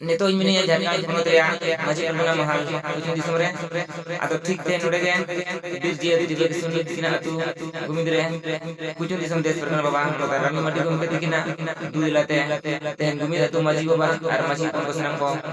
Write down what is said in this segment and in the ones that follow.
ᱱᱤᱛᱚᱜ ᱤᱧ ᱢᱤᱱᱟᱹᱧᱟ ᱡᱷᱟᱲᱠᱷᱚᱸᱰ ᱯᱚᱱᱚᱛ ᱨᱮᱭᱟᱜ ᱢᱟᱹᱡᱷᱤ ᱯᱟᱨᱜᱟᱱᱟ ᱢᱟᱦᱟᱞ ᱯᱚᱪᱷᱤᱢ ᱫᱤᱥᱚᱢ ᱨᱮ ᱟᱫᱚ ᱴᱷᱤᱠ ᱛᱮ ᱱᱚᱰᱮ ᱜᱮ ᱵᱤᱨ ᱡᱤᱭᱟᱹᱞᱤ ᱛᱤᱨᱞᱟᱹ ᱠᱤᱥᱩᱱ ᱛᱤᱠᱤᱱᱟᱜ ᱟᱹᱛᱩ ᱜᱩᱢᱤᱫ ᱨᱮ ᱯᱚᱪᱷᱤᱢ ᱫᱤᱥᱚᱢ ᱫᱮᱥ ᱯᱟᱨᱜᱟᱱᱟ ᱵᱟᱵᱟ ᱢᱟᱱᱚᱛᱟᱱ ᱨᱟᱱᱤ ᱢᱟᱨᱰᱤ ᱜᱚᱢᱠᱮ ᱛᱤᱠᱤᱱᱟᱜ ᱫᱩᱭ ᱞᱟᱛᱮ ᱛᱮᱦᱮᱧ ᱜᱩᱢᱤᱫ ᱟᱹᱛᱩ ᱢᱟᱹᱡᱷᱤ ᱵᱟᱵᱟ ᱟᱨ ᱢᱟᱹᱡᱷᱤ ᱦᱚᱯᱚᱱ ᱠᱚ ᱥᱟᱱᱟᱢ ᱠᱚ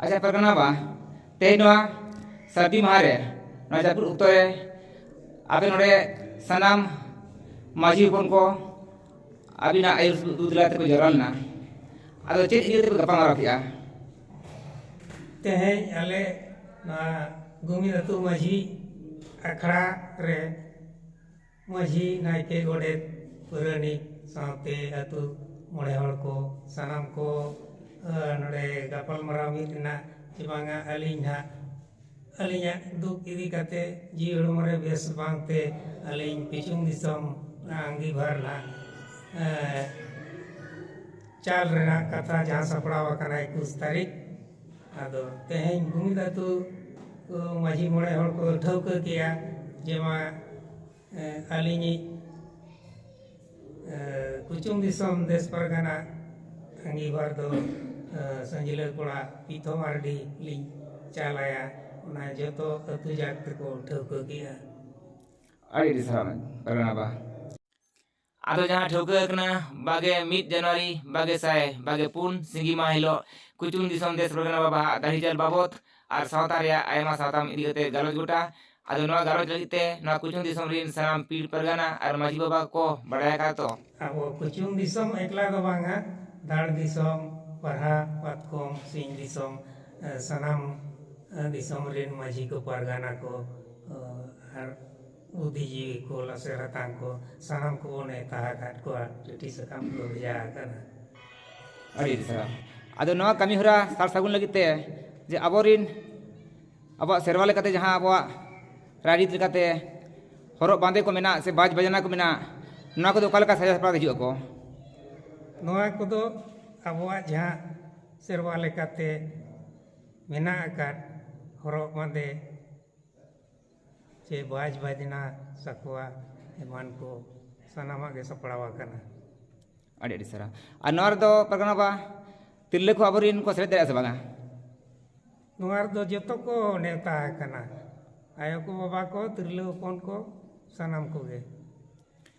ᱟᱪᱪᱷᱟ ᱯᱟᱨᱜᱟᱱᱟ ᱵᱟᱵᱟ ᱛᱮᱦᱮᱧ ᱱᱚᱣᱟ ᱥᱟᱹᱨᱫᱤ ᱢᱟᱦᱟ ᱨᱮ ᱱᱚᱣᱟ ᱡᱟᱹᱯᱩᱫ ᱚᱠᱛᱚ ᱨᱮ ᱟᱯᱮ ᱱᱚᱰᱮ ᱥᱟᱱᱟᱢ ᱢᱟᱺᱡᱷᱤ ᱦᱚᱯᱚᱱ ᱠᱚ ᱟᱹᱵᱤᱱᱟᱜ ᱟᱹᱭᱩᱨ ᱫᱩᱫᱽᱞᱟ ᱛᱮᱠᱚ ᱡᱟᱣᱨᱟ ᱞᱮᱱᱟ ᱟᱫᱚ ᱪᱮᱫ ᱤᱫᱤ ᱠᱟᱛᱮ ᱯᱮ ᱜᱟᱯᱟᱞᱢᱟᱨᱟᱣ ᱠᱮᱜᱼᱟ ᱛᱮᱦᱮᱧ ᱟᱞᱮ ᱱᱚᱣᱟ ᱜᱩᱢᱤᱫ ᱟᱹᱛᱩ ᱢᱟᱺᱡᱷᱤ ᱟᱠᱷᱲᱟ ᱨᱮ ᱢᱟᱹᱡᱷᱤ ᱱᱟᱭᱠᱮ ᱜᱚᱰᱮᱛ ᱯᱟᱹᱨᱟᱹᱱᱤᱠ ᱥᱟᱶᱛᱮ ᱟᱹᱛᱩ ᱢᱚᱬᱮ ᱦᱚᱲ ᱠᱚ ᱥᱟᱱᱟᱢ ᱠᱚ ᱱᱚᱰᱮ ᱜᱟᱯᱟᱞ ᱢᱟᱨᱟᱣ ᱢᱤᱫ ᱮᱱᱟ ᱡᱮ ᱵᱟᱝᱟ ᱟᱹᱞᱤᱧ ᱦᱟᱸᱜ ᱟᱹᱞᱤᱧᱟᱜ ᱫᱩᱠ ᱤᱫᱤ ᱠᱟᱛᱮ ᱡᱤᱣᱤ ᱦᱚᱲᱢᱚ ᱨᱮ ᱵᱮᱥ ᱵᱟᱝᱛᱮ ᱟᱹᱞᱤᱧ ᱯᱤᱪᱷᱩᱢ ᱫᱤᱥᱚᱢ ᱟᱺᱜᱤᱵᱷᱟᱨ ᱱᱟᱜ ᱪᱟᱞ ᱨᱮᱱᱟᱜ ᱠᱟᱛᱷᱟ ᱡᱟᱦᱟᱸ ᱥᱟᱯᱲᱟᱣ ᱟᱠᱟᱱᱟ ᱮᱠᱩᱥ ᱛᱟᱹᱨᱤᱠᱷ ᱟᱫᱚ ᱛᱮᱦᱮᱧ ᱜᱩᱢᱤᱫ ᱟᱹᱛᱩ ᱢᱟᱺᱡᱷᱤ ᱢᱚᱬᱮ ᱦᱚᱲ ᱠᱚ ᱴᱷᱟᱹᱣᱠᱟᱹ ᱠᱮᱜᱼᱟ ᱡᱮ ᱢᱟ ᱟᱹᱞᱤᱧᱤᱡ ᱠᱩᱪᱩᱝ ᱫᱤᱥᱚᱢ ᱫᱮᱥ ᱯᱟᱨᱜᱟᱱᱟ ᱟᱺᱜᱤᱵᱷᱟᱨ ᱫᱚ ᱥᱟᱹᱡᱽᱞᱟᱹ ᱠᱚᱲᱟ ᱯᱤᱛᱷᱚ ᱢᱟᱨᱰᱤ ᱞᱤᱧ ᱪᱟᱞ ᱟᱭᱟ ᱚᱱᱟ ᱡᱚᱛᱚ ᱟᱹᱛᱩ ᱡᱟᱠ ᱛᱮᱠᱚ ᱴᱷᱟᱹᱣᱠᱟᱹ ᱠᱮᱜᱼᱟ ᱟᱹᱰᱤ ᱟᱹᱰᱤ ᱥᱟᱨᱦᱟᱣ ᱨᱟᱱᱟᱵᱟ ᱟᱫᱚ ᱡᱟᱦᱟᱸ ᱴᱷᱟᱹᱣᱠᱟᱹ ᱟᱠᱟᱱᱟ ᱵᱟᱜᱮ ᱢᱤᱫ ᱡᱟᱱᱩᱣᱟᱨᱤ ᱵᱟᱜᱮ ᱥᱟᱭ ᱵᱟᱜᱮ ᱯᱩᱱ ᱥᱤᱸᱜᱤ ᱢᱟᱦᱟ ᱦᱤᱞᱚᱜ ᱠᱩᱪᱩᱝ ᱫᱤᱥᱚᱢ ᱫᱮᱥ ᱯᱟᱨᱜᱟᱱᱟ ᱵᱟᱵᱟ ᱦᱟᱜ ᱫᱟᱹᱲᱦᱤᱪᱟᱞ ᱵᱟᱵᱚᱛ ᱟᱨ ᱥᱟᱶᱛᱟ ᱨᱮᱭᱟᱜ ᱟᱭᱢᱟ ᱥᱟᱛᱟᱢ ᱤᱫᱤ ᱠᱟᱛᱮ ᱜᱟᱞᱚᱪ ᱜᱚᱴᱟ ᱟᱫᱚ ᱱᱚᱣᱟ ᱜᱟᱞᱚᱪ ᱞᱟᱹᱜᱤᱫ ᱛᱮ ᱱᱚᱣᱟ ᱠᱩᱪᱩᱝ ᱫᱤᱥᱚᱢ ᱨᱤᱱ ᱥᱟᱱᱟᱢ ᱯᱤᱲ ᱯᱟᱨᱜᱟᱱᱟ ᱟᱨ ᱢᱟᱹᱡᱷᱤ ᱵᱟᱵᱟ ᱠᱚ ᱵᱟᱰᱟᱭ ᱟᱠᱟᱫᱟ ᱛᱚ᱾ ᱟᱵᱚ ᱠᱩᱪᱩᱝ ᱫᱤᱥᱚᱢ ᱮᱠᱞᱟ ᱫᱚ ᱵᱟᱝᱟ ᱫᱟᱲ ᱫᱤᱥᱚᱢ, ᱯᱟᱨᱦᱟ, ᱯᱟᱛᱠᱚᱢ, ᱥᱤᱧ ᱫᱤᱥᱚᱢ ᱥᱟᱱᱟᱢ ᱫᱤᱥᱚᱢ ᱨᱤᱱ ᱢᱟᱹᱡᱷᱤ ᱠᱚ ᱯᱟᱨᱜᱟᱱᱟ ᱠᱚ ᱟᱨ ᱵᱩᱫᱷᱤ ᱡᱤᱣᱤ ᱠᱚ ᱞᱟᱥᱮᱨ ᱦᱟᱛᱟᱝ ᱠᱚ ᱥᱟᱱᱟᱢ ᱠᱚ ᱵᱚᱱ ᱱᱮᱣᱛᱟ ᱟᱠᱟᱫ ᱠᱚᱣᱟ ᱪᱩᱴᱤ ᱥᱟᱠᱟᱢ ᱠᱚ ᱵᱷᱮᱡᱟ ᱟᱠᱟᱱᱟ ᱟᱹᱰᱤ ᱟᱹᱰᱤ ᱥᱟᱨᱦᱟᱣ ᱟᱫᱚ ᱱᱚᱣᱟ ᱠᱟᱹᱢᱤ ᱦᱚᱨᱟ ᱥᱟᱨ ᱥᱟᱹᱜᱩᱱ ᱞᱟᱹᱜᱤᱫ ᱛᱮ ᱡᱮ ᱟᱵᱚᱨᱤᱱ ᱟᱵᱚᱣᱟᱜ ᱥᱮᱨᱣᱟ ᱞᱮᱠᱟᱛᱮ ᱡᱟᱦᱟᱸ ᱟᱵᱚᱣᱟᱜ ᱨᱟᱭᱨᱤᱛ ᱞᱮᱠᱟᱛᱮ ᱦᱚᱨᱚᱜ ᱵᱟᱸᱫᱮ ᱠᱚ ᱢᱮᱱᱟᱜ ᱥᱮ ᱵᱟᱡᱽ ᱵᱟᱡᱽᱱᱟ ᱠᱚ ᱢᱮᱱᱟᱜ ᱱᱚᱣᱟ ᱠᱚᱫᱚ ᱚᱠᱟ ᱞᱮᱠᱟ ᱥᱟᱡᱟᱣ ᱥᱟᱯᱲᱟᱣ ᱦᱤᱡᱩᱜ ᱟᱠᱚ ᱱᱚᱣᱟ ᱠᱚᱫᱚ ᱟᱵᱚᱣᱟᱜ ᱡᱟᱦᱟᱸ ᱥᱮᱨᱣᱟ ᱞᱮᱠᱟᱛᱮ ᱢᱮᱱᱟᱜ ᱟᱠᱟᱫ ᱦᱚᱨᱚᱜ ᱵᱟᱸᱫᱮ ᱪᱮ ᱵᱟᱡᱽ ᱵᱟᱡᱽᱱᱟ ᱥᱟᱠᱣᱟ ᱮᱢᱟᱱ ᱠᱚ ᱥᱟᱱᱟᱢᱟᱜ ᱜᱮ ᱥᱟᱯᱲᱟᱣ ᱟᱠᱟᱱᱟ ᱟᱹᱰᱤ ᱟᱹᱰᱤ ᱥᱟᱨᱦᱟᱣ ᱟᱨ ᱱᱚᱣᱟ ᱨᱮᱫᱚ ᱯᱟᱨᱜᱟᱱᱟ ᱵᱟ ᱛᱤᱨᱞᱟᱹ ᱠᱚ ᱟᱵᱚᱨᱮᱱ ᱠᱚ ᱥᱮᱞᱮᱫ ᱫᱟᱲᱮᱭᱟᱜᱼᱟ ᱥᱮ ᱵᱟᱝᱟ ᱱᱚᱣᱟ ᱨᱮᱫᱚ ᱡᱚᱛᱚ ᱠᱚ ᱱᱮᱣᱛᱟ ᱟᱠᱟᱱᱟ ᱟᱭᱳ ᱠᱚ ᱵᱟᱵᱟ ᱠᱚ ᱛᱤᱨᱞᱟᱹ ᱦᱚᱯᱚᱱ ᱠᱚ ᱥᱟᱱᱟᱢ ᱠᱚᱜᱮ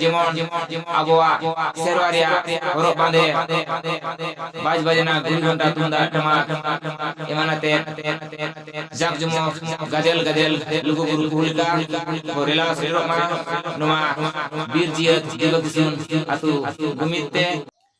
ᱡᱮᱢᱚᱱ ᱟᱵᱚᱣᱟᱜ ᱥᱮᱨᱣᱟ ᱨᱮᱭᱟᱜ ᱦᱚᱨᱚᱜ ᱵᱟᱸᱫᱮ ᱵᱟᱡᱽ ᱵᱟᱡᱽᱱᱟ ᱜᱩᱲᱤ ᱜᱷᱚᱱᱴᱟ ᱛᱩᱢᱫᱟᱜ ᱴᱟᱢᱟᱠ ᱮᱢᱟᱱ ᱟᱛᱮ ᱡᱟᱠ ᱡᱚᱢᱚᱠ ᱜᱟᱫᱮᱞ ᱜᱟᱫᱮᱞ ᱞᱩᱜᱩ ᱵᱩᱨᱩ ᱠᱚ ᱞᱮᱠᱟ ᱠᱚ ᱨᱮᱞᱟᱣ ᱥᱮᱴᱮᱨᱚᱜ ᱢᱟ ᱱᱚᱣᱟ ᱵᱤᱨ ᱡᱤᱭᱟᱹᱛ ᱫᱤᱵᱟᱹ ᱠᱤᱥᱩᱱ ᱟᱹᱛᱩ ᱡᱩᱢᱤᱫ ᱛᱮ